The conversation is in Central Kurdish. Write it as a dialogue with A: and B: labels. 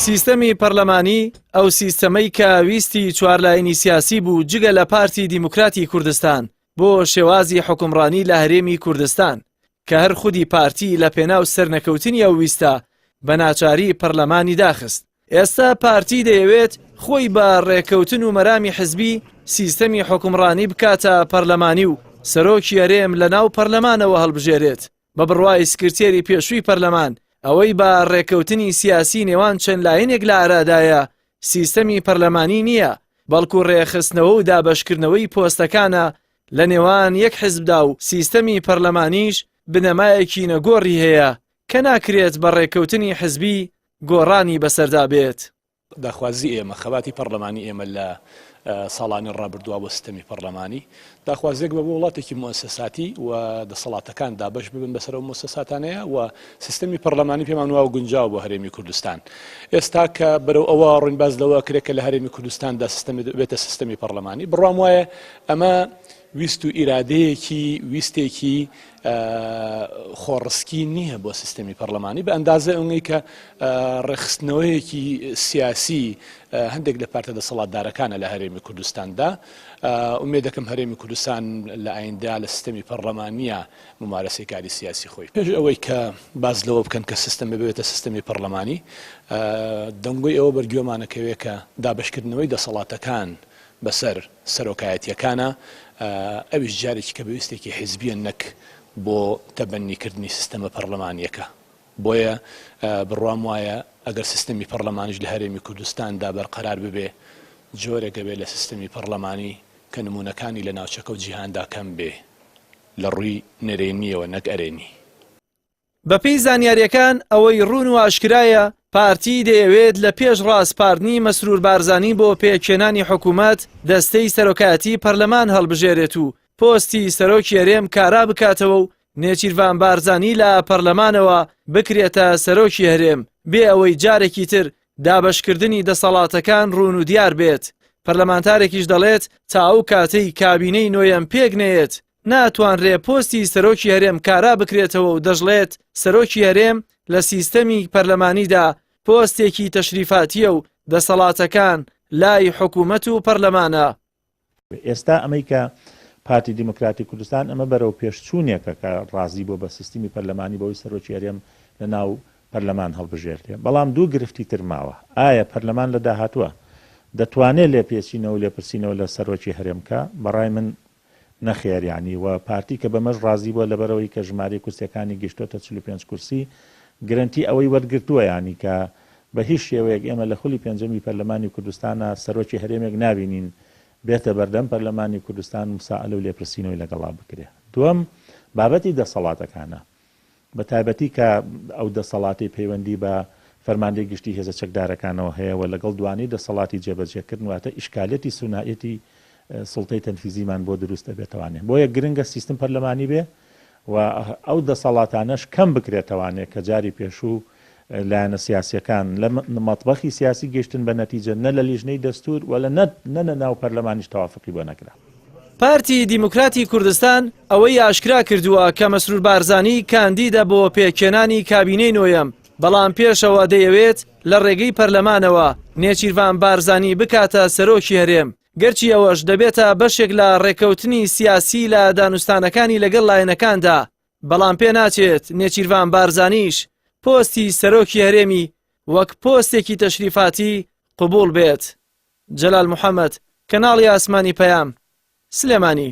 A: سیستەمی پەرلەمانی، ئەو سیستەمەی کە ویستی چوار لایەنی سیاسی بوو جگە لە پارتی دیموکراتی کوردستان بۆ شێوازی حوکمڕانی لە هەرێمی کوردستان، کە هەر خودی پارتی لە پێناو سەرنەکەوتنی ئەو ویستە بە ناچاری پەرلەمانی داخست. ئێستا پارتی دەیەوێت خۆی بە ڕێککەوتن و مەرامی حزبی سیستەمی حوکمڕانی بکاتە پەرلەمانی و سەرۆکی هەرێم لە ناو پەرلەمانەوە هەڵبژێرێت. بە بڕوای سکرتێری پێشووی پەرلەمان، ئەوەی بە ڕێککەوتنی سیاسی نێوان چەند لایەنێک لە ئارادایە، سیستەمی پەرلەمانی نییە، بەڵکو ڕێکخستنەوە و دابەشکردنەوەی پۆستەکانە لە نێوان یەک حزبدا و سیستەمی پەرلەمانیش بنەمایەکی نەگۆڕی هەیە کە ناکرێت بە ڕێککەوتنی حزبی گۆڕانی بەسەردا بێت. داخوازی ئێمە،
B: خەباتی پەڕلەمانی ئێمە لە ساڵانی ڕابردووە بۆ سیستەمی پەڕلەمانی، داخوازێک بە بۆ وڵاتێکی موئەسەساتی و دەسەڵاتەکان دابەش ببن بەسەر ئەو موسەساتانەیە و سیستەمی پەڕلەمانی پێمان وایە گونجاوە بۆ هەرێمی کوردستان. ئێستا کە بەرەو ئەوە ڕووین باس لەوە ئەکرێت کە لە هەرێمی کوردستاندا سیستەمی بێتە سیستەمی پەڕلەمانی، بڕوام وایە ئەمە ویست و ئیرادەیەکی ویستێکی خۆڕسکی نییە بۆ سیستەمی پەرلەمانی بە ئەندازە ئەونەی کە ڕێخستنەوەیەکی سیاسی هەندێک لە پارتە دەسەڵاتدارەکانە لە هەرێمی کوردستاندا ئومێ دەکەم هەرێمی کوردستان لە ئایندا لە سیستەمی پەرلەمانە ممارەسی کاری سیاسی خۆی پێش ئەوەی کە باز لەوە بکەن کە سیستم ببێتە سیستەمی پەرلەمانی دەنگۆی ئەوە بەرگوێمانەکەوێ کە دابشکردنەوەی دەسەڵاتەکان بەسەر سەرۆکایەتییەکانا، ئەویش جارێکی کە بە ویستێکی حیزبییە نەک بۆ تەبەننیکردنی سیستەمە پەڕلەمانییەکە. بۆیە بڕوام وایە ئەگەر سیستەمی پەڕلەمانیش لە هەرێمی کوردستاندا بەرقەرار ببێ، جۆرێک ئەبێ لە سیستەمی پەڕلەمانی کە نموونەکانی لە ناوچەکە و جیهاندا کەم بێ لە ڕووی نەرێنییەوە نەک ئەرێنی. بەپێی
A: زانیارییەکان ئەوەی روون و ئاشکرایە، پارتی دەیەوێت لە پێش راسپاردنی مەسرور بارزانی بۆ پێکهێنانی حکومەت، دەستەی سەرۆکایەتی پەرلەمان هەڵبژێرێت و پۆستی سەرۆکی هەرێم کارا بکاتەوە و نێچیرڤان بارزانی لە پەرلەمانەوە بکرێتە سەرۆکی هەرێم بێ ئەوەی جارێکی تر دابەشکردنی دەسەڵاتەکان روون و دیار بێت. پەرلەمانتارێکیش دەڵێت تا ئەو کاتەی کابینەی نۆیەم پێک نەیەت، ناتوانرێ پۆستی سەرۆکی هەرێم کارا بکرێتەوە و دەشڵێت، سەرۆکی هەرێم لە سیستەمی پەرلەمانیدا پۆستێکی تەشریفاتییە و دەسەڵاتەکان لای حکوومەت و پەرلەمانە. ئێستا
C: ئەمەی کە پارتی دیموکراتی کوردستان ئەمە بەرەوپێشچوونێکە کە ڕازی بووە بە سیستمی پەرلەمانی بەوەی سەرۆکی هەرێم لە ناو پەرلەمان هەڵبژێردرێ. بەڵام دوو گرفتی تر ماوە، ئایا پەرلەمان لە داهاتووە دەتوانێ لێپێچینەوە و لێپرسینەوە لە سەرۆکی هەرێم بکا؟ بە ڕای من نەخێر یانی وە پارتی کە بەمەش ڕازی بوە لەبەرئەوەی کە ژمارەی کورسیەکانی گەشتۆتە چل و پێنج کورسی گرەنتی ئەوەی وەرگرتوە یانی کە بە هیچ شێوەیەک ئێمە لە خولی پێنجەمی پەرلەمانی کوردستانا سەرۆکی هەرێمێک نابینین بێتە بەردەم پەرلەمانی کوردستان مسائلە و لێپرسینەوەی لەگەڵا بکرێ دوەم بابەتی دەسەڵاتەکانە بە تایبەتی کە ئەو دەسەڵاتەی پەیوەندی بە فەرماندەی گشتی هێزە چەکدارەکانەوە هەیە و لەگەڵ دوانەی دەسەڵاتی جێبەجێکردن واتە ئیشکالەتی سونائیەتی سوڵتەی تەنفیزیمان بۆ دروست دەبێتەوانێ بۆیە گرنگە سیستم پەرلەمانی بێ و ئەو دەسەڵاتانەش کەم بکرێتەوانێ کە جاری پێشوو لایەنە سیاسیەکان لە مەتبەخی سیاسی گەیشتن بە نەتیجە نە لە لیژنەی دەستور و لە نە لە ناو پەرلەمانیش تەوافقی بۆ نەکرا. پارتی
A: دیموکراتی کوردستان ئەوەی ئاشکرا کردووە کە مەسرور بارزانی کاندیدە بۆ پێکهێنانی کابینەی نۆیەم، بەڵام پێشەوە دەیەوێت لە ڕێگەی پەرلەمانەوە نێچیرڤان بارزانی بکاتە سەرۆکی هەرێم، گەرچی ئەوەش دەبێتە بەشێک لە ڕێککەوتنی سیاسی لە دانوستانەکانی لەگەڵ لایەنەکاندا بەڵام پێناچێت نێچیرڤان بارزانیش پۆستی سەرۆکی هەرێمی وەک پۆستێکی تەشریفاتی قبول بێت جەلال محەممەد کەناڵی ئاسمانی پەیام سلێمانی